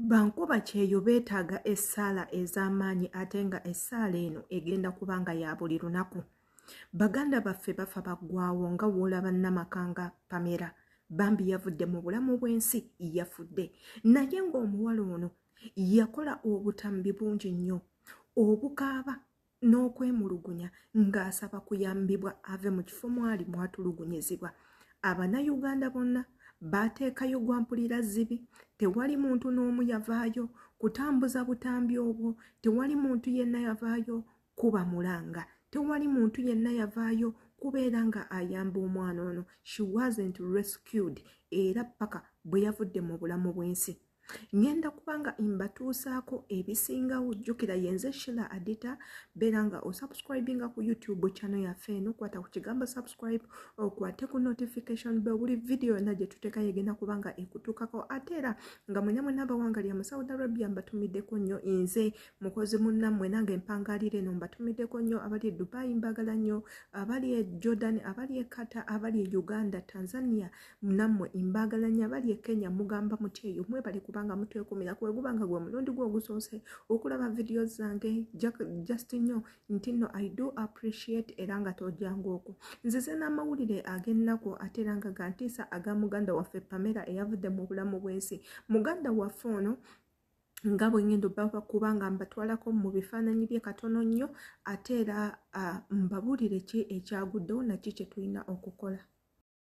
Bankuba kyeyo beetaaga essaala ez'amaanyi ate nga essaala eno egenda kuba nga ya buli lunaku. Baganda baffe bafa baggwawo nga w'olaba namaka nga Pamela bambi yavudde mu bulamu bw'ensi yafudde naye ng'omuwala ono yakola obutambi bungi nnyo obukaaba n'okwemulugunya ng'asaba kuyambibwa ave mu kifo mwali mwatulugunyizibwa abanayuganda bonna baateekayo gwa mpulira zibi tewali muntu n'omu yavaayo kutambuza butambi obwo tewali muntu yenna yavaayo kuba mulanga tewali muntu yenna yavaayo kubeera nga ayamba omwana ono she wasn't rescued era paka bwe yavudde mu bulamu bw'ensi ngenda kubanga mbatuusaako ebisingawo jjukira yenze shila adita beera nga osubscribinga ku youtube channel yaffe eno kwata ku kigambo subscribe okwate ku notification be buli vidiyo yonna gye tuteekayo egenda kuba nga ekutuukako ate era nga mwena mwena abawanga lya mu saudi arabia mbatumiddeko nnyo nze mukozi munnammwe nange mpangaalira eno mbatumiddeko nnyo abali e dubai mbagala nnyo abali e jordan abali e kata abali e uganda tanzania namwe mbagalanya bali e kenya mugamba muti eyo mwebale kubanga mutwekumira kweguba nga gwe mulundi gwe ogusoose okulaba vidiyo zange just nyo nti no i do appreciate era nga tojangu oku nzize n'amawulire ag'ennaku ate era nga gantiisa aga muganda waffe pamera eyavudde mu bulamu bw'ensi muganda waffe ono nga bwengendo baba kubanga mbatwalako mu bifaananyi bye katono nnyo ate era ah, mbabulire ki ekyaguddewo naki kyetulina okukola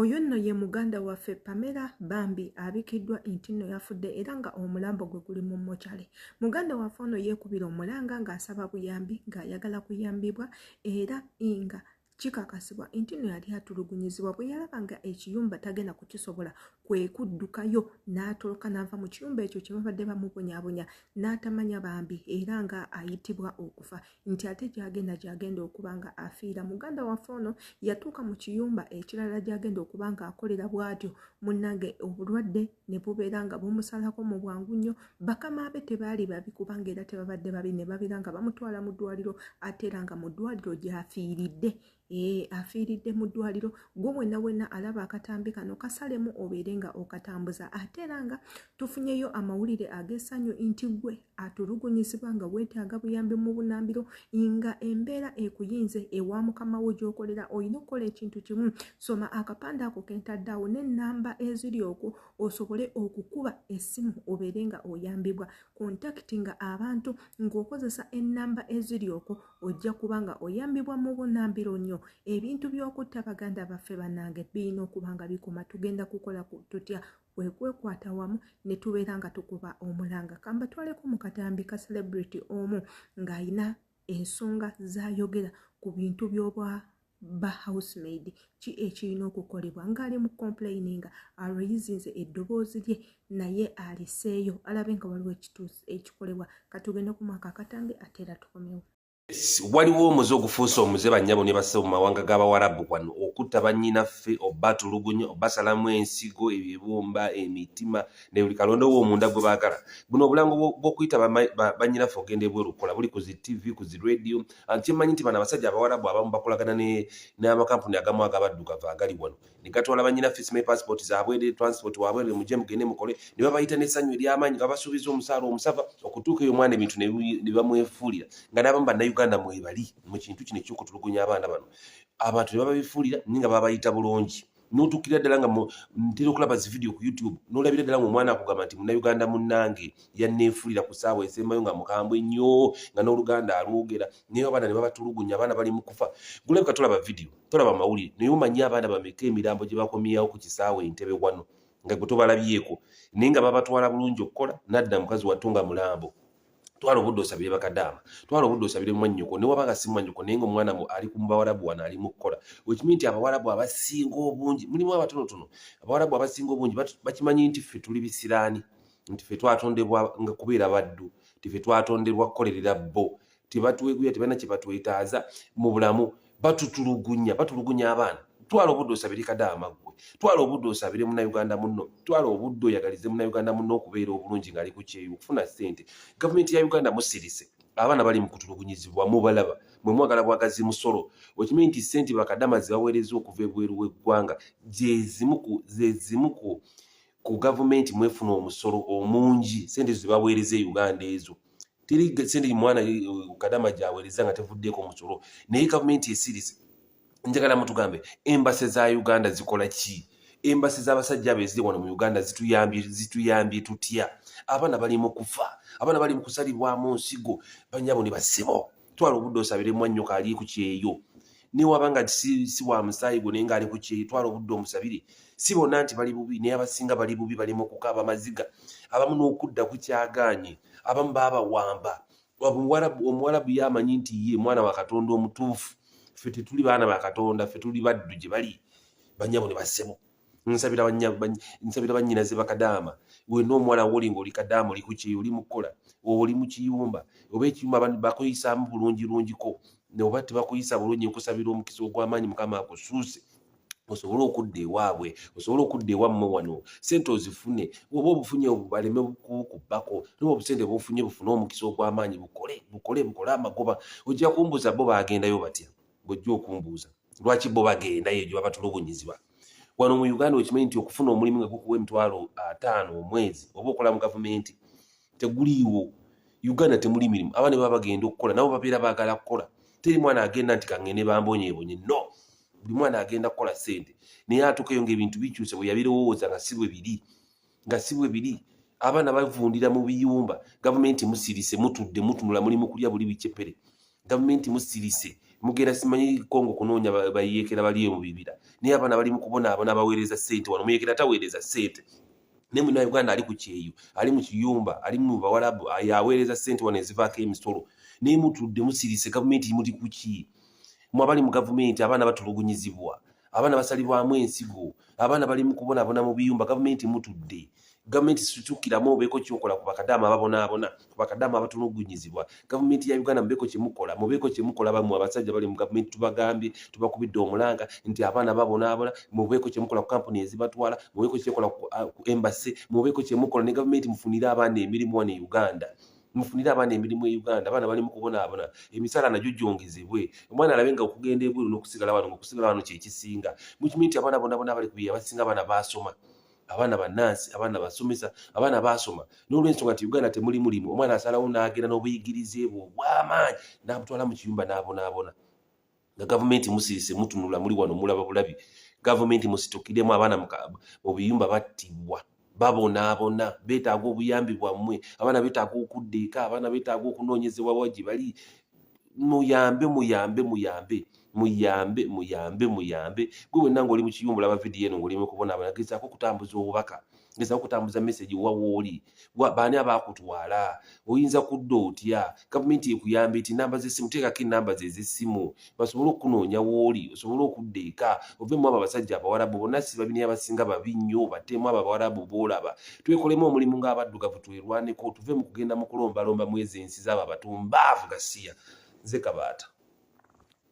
Oyo nno ye muganda waffe Pamela bambi abikiddwa nti nno yafudde era nga omulambo gwe guli mu mochale. Muganda waffe ono yeekubira omulanga ng'asaba buyambi ng'ayagala kuyambibwa era nga kikakasibwa nti no yali atulugunyizibwa bwe yalaba nga ekiyumba tagenda kukisobola kwe kuddukayo n'atoloka n'ava mu kiyumba ekyo kye babadde bamubonyabonya n'atamanya bambi era nga ayitibwa okufa nti ate gyagenda gyagenda okuba nga afiira muganda waffe ono yatuuka mu kiyumba ekirala gyagenda okuba nga akolera bwatyo munnange obulwadde ne bubeera nga bumusalako mu bwangu nnyo bakama be tebaali babi kubanga era tebabadde babi ne babeera nga bamutwala mu ddwaliro ate era nga mu ddwaliro gyafiiridde ee afiiridde mu ddwaliro gwe wena wena alaba akatambi kano kasalemu obeere nga okatambuza ate era nga tufunyeyo amawulire ag'essanyu nti gwe atulugunyizibwa nga weetaaga buyambi mu bunambiro nga embeera ekuyinze ewa mukama wo gy'okolera olina okukola ekintu kimu soma akapande ako kentadde awo n'ennamba eziri okwo osobole okukuba essimu obeere nga oyambibwa kontakiti nga abantu ng'okozesa ennamba eziri okwo ojja kuba nga oyambibwa mu bunambiro nnyo ebintu by'okutta baganda baffe banange birina okuba nga bikoma tugenda kukola tutya kwekwekwata wamu ne tubeera nga tukuba omulanga kambatwaleko mu katambi ka celebrity omu ng'alina ensonga zayogera ku bintu by'obwa ba housemaid ki ekirina okukolebwa ngaali mu complaininga alweyizinze eddoboozi lye naye aliseeyo alabe nga waliwo ekituusi ekikolebwa katugende ku mwaka akatambi ate era tukomewo waliwo omuze ogufuuse omuze bannyabo ne basebo mu mawanga g'abawarabu wano okutta bannyinaffe obatulugunya obasalamu ensigo ebibumba emitima ne buli kalonda owo omunda gwe baagala buno obulango bw'okuyita bannyinaffe ogenda ebwerukola buli ku zi ttivi ku zi rediyo and kyemanyi nti bano abasajja abawarabu abamu bakolagana n'amakampuni agamu agabaddugavu agali wano ne gatwala banyina fisi ne passport zabwere transport wabwere muje mugende mukole ne babayita n'essanyu ery'amaanyi nga basuubiza omusaala omusava okutuuka eyo omwana ebintu ne bamwefuulira nga n'abamu bannayuganda mwebali mu kintu kino ekyokutulugunya abaana bano abantu ne bababifuulira naye nga babayita bulungi notukira ddala nga ntera okulaba zi video ku youtube nolabira ddala ngaomwana akugamba nti munauganda munange yanneefuulira ku saawa esembayo nga mukambwe nnyo nga n'oluganda alwogera naye abaana ne babatulugunya abaana bali mu kufa gulabika tolaba video tolaba mawulire naye omanyi abaana bameka emirambo gye bakomyawo ku kisaawa entebe wano nga gwe tobalabyeko naye nga babatwala bulungi okukola nadda mukazi wattu nga mulambo twala obudde osabire bakadaama twala obudde osabire mwannyoko ne wabanga si mwannyoko naye nga omwana mu ali ku bawarabu wano ali mu kukola wekimii nti abawarabu abasinga obungi mulimu abatonotono abawarabu abasinga obungi bakimanyi nti ffe tuli bisiraani nti ffe twatondebwa nga kubeera baddu nti ffe twatondebwa kukolerera bo tebatweguya tebalina kye batwetaaza mu bulamu batutulugunya batulugunya abaana twala obudde osabire kadaama gwe twala obudde osabire munauganda muno twala obudde oyagalize munauganda muno okubeera obulungi ngaali ku kyeyo okufuna ssente gavumenti ya uganda musirise abaana bali mukutulugunyizibwa mubalaba mwe mwagala bwagazi musolo okimanyi nti ssente bakadama zibaweereza okuva ebweru w'eggwanga gyezimuku zezimuku ku gavumenti mwefuna omusolo omungi sente ezo zebaweereza e uganda ezo teri sente mwana eh, kadama gyaweereza nga tevuddeeko omusolo naye gavumenti esirize njagala mutugambe embase za uganda zikola ki embasi z'abasajja abo eziri wano mu uganda zituyambye zituyambye tutya abaana bali mu kufa abaana bali mu kusalibwamu nsigo banyabo ne basibo twala obudde osabire mwannyo kaali ku kyeyo newaba nga si, si wa musaayi gwo naye ngaali ku kyeyo twala obudde omusabire si bonna nti bali bubi naye abasinga bali bubi balimu okukaaba amaziga abamu n'okudda ku kyagaanye abamu baabawamba omuwalabu ye amanyi nti ye mwana wa katonda omutuufu ffe tetuli baana ba katonda ffe tuli baddu gye bali banyabo ne bassebo nsabira banya nsabira banyina ze bakadama we no mwala woli ngoli kadama oli kuchi oli mukola oli mu kiyumba oba ekiyumba abantu bakoyisa mu bulungi lungi ko ne oba tebakoyisa bulungi nkusabira omukisa ogw'amaanyi mukama akusuuse osobola okudda ewaabwe osobola okudda ewammwe wano sente ozifune oba obufunye baleme kukubbako noba obusente bufunye bufune omukisa ogw'amaanyi bukole bukole bukole amagoba ojja kumbuza bo bagendayo batya ng'ojja okumbuuza lwaki bo bagenda eyo gye babatulugunyiziba wano mu uganda okimanyi nti okufuna omulimu nga gukuwa emitwalo ataano omwezi oba okola mu gavumenti teguliiwo uganda temuli mirimu abaana baba bagenda okukola nabo babeera baagala kukola teri mwana agenda nti kangende bambonyebonye no buli mwana agenda kukola sente naye atuukeyo ngaebintu bikyuse bwe yabirowooza nga si bwe biri nga si bwe biri abaana bavundira mu biyumba gavumenti musirise mutudde mutunula muli mu kulya buli bicepere gavumenti musirise mugenda simanyi kongo kunoonya bayeekera baliyo mu bibira naye abaana bali mu kubonaabona baweereza ssente wano muyeekera taweereza ssente ne muna uganda ali ku kyeyo ali mu kiyumba ali mu bawalabu yaweereza sente wano ezivaako emisolo naye mutudde musirise gavumenti imuli kuki mwabali mu gavumenti abaana batulugunyizibwa abaana basalibwamu ensigo abaana bali mukubonabona mu biyumba gavumenti mutudde gavumenti situkiramu obeeko kyokola ku bakadaama babonaabona ku bakadaama abatulugunyizibwa gavumenti ya uganda mubeeko kyemukola mubeeko kyemukola bamwe abasajja bali mu gavumenti tubagambye tubakubidde omulanga nti abaana babonaabona mubeeko kyemukola ku kampuni ezibatwala mubeeko kyekola ku uh, embasi mubeeko kyemukola ne gavumenti mufunire abaana emirimu wano e uganda mufunire abaana emirimu e Uganda abaana bali mu kubonaabona emisala nagyo gyongezebwe omwana alabe nga okugenda ebweru n'okusigala wano nga okusigala wano kyekisinga mukimanyi nti abaana bonabona abali kubiya abasinga abaana baasoma abaana bannansi abaana basomesa abaana baasoma n'olwensonga nti uganda temuli mulimu omwana asalawo n'agenda n'obuyigirize bwe obw'amaanyi n'abutwala mu kiyumba n'abonaabona nga gavumenti musirise mutunula muli wano mulaba bulabi gavumenti musitukiremu abaana mu biyumba battibwa babonaabona beetaaga obuyambi bwammwe abaana beetaaga okudda eka abaana beetaaga okunoonyezebwa wa gye bali muyambe muyambe muyambe muyambe muyambe muyambe gwe wenna ngaoli mu kiyumba olaba vidiyo eno ngaoli mu kubonaabona gezaako okutambuza obubaka ngeza okutambuza message wa woli wa bani abakutwala oyinza kudda otya gavumenti ekuyamba eti namba z'essimu teekako enamba ze z'essimu basobole okunoonya woli osobole okudda eka ove mu abo abasajja abawarabu bonna si babini abasinga babi nnyo bateemu abo abawarabu boolaba twekolemu omulimu ng'abaddugavu twerwaneko tuve mu kugenda mu kulombalomba mwezi ensi z'abo abatumbaavu gasiya nze kabaata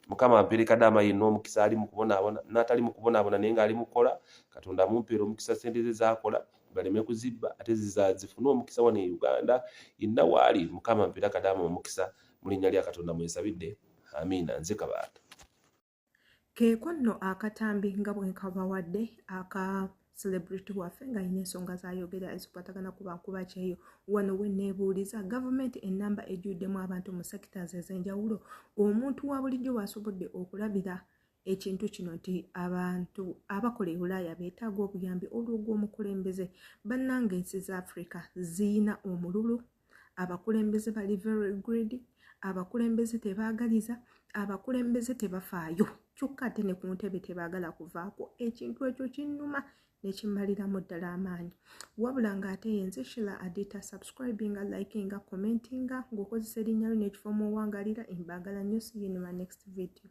mukama ampere kadaama yenna omukisa ali mukubonaabona n'atali mukubonaabona naye ng'ali mukukola katonda amumpeera omukisa sente ze zaakola baleme kuzibba ate zifune omukisa wano e uganda yenna waali mukama ampere kadaama omukisa mu linnya lya katonda mwensabidde amiina nze kabaata keeko nno akatambi nga bwe nkabawadde aka celebrity waffe nga alina ensonga zayogera ezikwatagana ku bankuba kyeyo wano weneebuuliza gavumenti enamba ejjuddemu abantu mu sectors ez'enjawulo omuntu wa bulijjo waasobodde okulabira ekintu kino nti abantu abakola ebulaaya beetaaga obuyambi olw'ogw'omukulembeze bannanga ensi za afrika ziyina omululu abakulembeze bali very greedy abakulembeze tebaagaliza abakulembeze tebafaayo kyokka ate ne ku ntebe tebaagala kuvaako ekintu ekyo kinnuma nekimaliramu ddala amaanyi wabula ng'ate yenze shila adita subscribinga likinga commentinga ng'okozesa erinnya lyo nekifo omuwangalira embaagala nnyo siyinima next video